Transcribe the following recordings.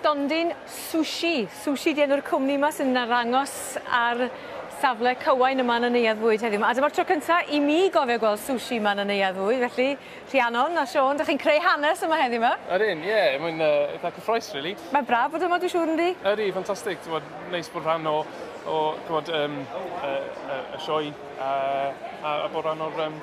Stondin Sushi. Sushi di enw'r cwmni yma sy'n arangos ar safle cywain yma yn y neuadd fwyd heddiw. A dyma'r tro cyntaf i mi gofio gweld sushi yma yn y neuadd fwyd, felly Rhiannon a Siôn, ydych chi'n creu hanes yma heddiw yma? Yr un, ie, yeah, mae'n uh, eitha cyffroes, really. Mae'n braf bod yma, dwi'n siŵr, yndi? Yr un, ffantastig, ti'n bod, neis bod rhan o, o ti'n bod, um, uh, uh, y sioe A a a bod rhan o'r yym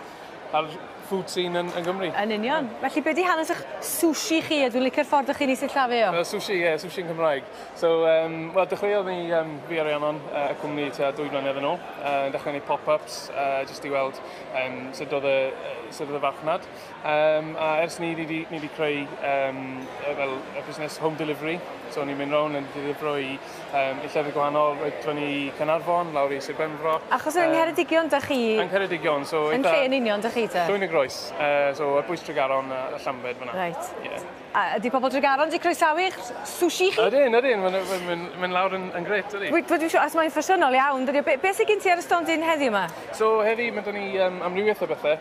a'r food scene yn yn Gymru. Yn union. Ie. Felly be' 'di hanes 'ych sushi chi a dwi licio'r ffordd dych chi'n 'i sillafu o. Yy sushi ie sushi yn Cymraeg. So yym wel dechreuodd ni yym fi a Rhiannon yy y cwmni tua dwy flynedd yn ôl yy yn dechre neud pop ups yy jyst i weld yym sud o'dd y yy sud o'dd y farchnad. Um, a ers ni wedi creu um, fel y busnes home delivery, so ni'n mynd rown yn ddifrifro i, um, i llefydd gwahanol, roedden ni Cynarfon, lawr i Sir Benfro. Achos yng Ngheredigion da chi? Yng Ngheredigion, so... Yn lle yn union da chi te? Llwyn y Groes, uh, so ar bwys Tregaron a Llambed fyna. Reit. Yeah. A ydy pobl Dregaron wedi croesawu eich sushi chi? Ydyn, ydyn, mae'n mynd lawr yn grêt, dydi? Dwi ddim siŵr os mae'n ffasiynol iawn, dydi o? Beth sydd gen ti ar y stondin heddiw yma? So, heddi mae 'da ni amrywiaeth o bethau.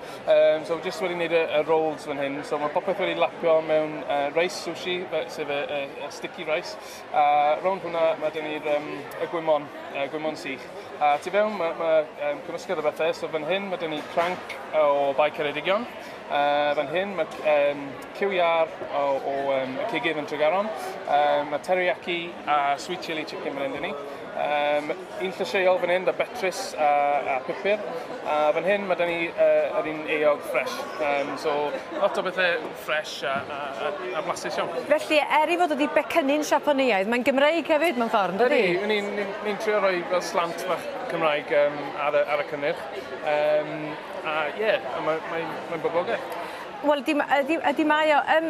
So, jyst wedi gwneud y rolls fan hyn. So, mae popeth wedi lapio mewn reis sushi, sef y sticky rice. A rownd hwnna mae 'da ni'r gwymon, y gwymon sych. A tu fewn mae cymysgedd o bethau. So, fan hyn mae 'da ni cranc o Bae Ceredigion. Yy fan hyn mae yym cyw iâr o o yym y cigydd yn Tregaron. Yym mae teriyaki a sweet chilli chicken fan hyn 'da ni. Yym un llysieuol fan hyn 'da betrus a a pupur. A fan hyn ma' 'da ni yy yr un eog ffresh. Yym so lot o bethe ffresh a a a a blasus iawn. Felly er 'i fod o 'di becynnu'n Siapaneaidd mae'n Gymreig hefyd mewn ffordd yndydi? Ydi, ydi ni'n ni'n ni'n trio roi fel slant bach Cymraeg yym ar y ar y cynnyrch. Yym. A ie, yeah, mae'n mae, mae boblogaidd. Wel, ydy, ydy, ydy mae o. Um,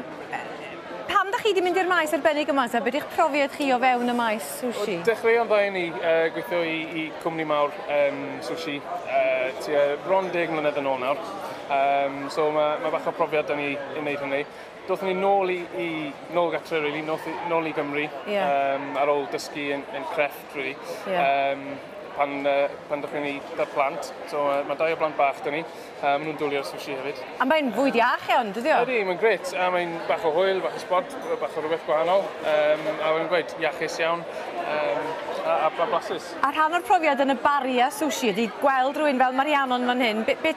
pam da chi wedi mynd i'r maes arbennig yma ta? Beth yw'ch profiad chi o fewn y maes sushi? Dechreuo'n dda i ni uh, gweithio i, i cwmni mawr um, sushi uh, tua bron deg mlynedd yn ôl nawr. Um, so mae ma bach o profiad da ni i wneud hynny. Do'th ni nôl i, i nôl gatre, really, nôl, nôl i Gymru, yeah. um, ar ôl dysgu yn, yn crefft, really. Yeah. Um, pan, uh, pan dych chi'n ei da plant. So uh, mae dau o blant bach dyn ni. Uh, maen nhw'n dwlio'r sushi hefyd. A mae'n fwyd iach iawn, dydy o? Ydy, mae'n gret. A mae'n bach o hwyl, bach o spod, bach o rhywbeth gwahanol. Um, a mae'n gweud, iachus iawn. Um, a, a blasus. A rhan o'r profiad yn y bari a sushi ydy gweld rhywun fel Marianon fan hyn. Be, be,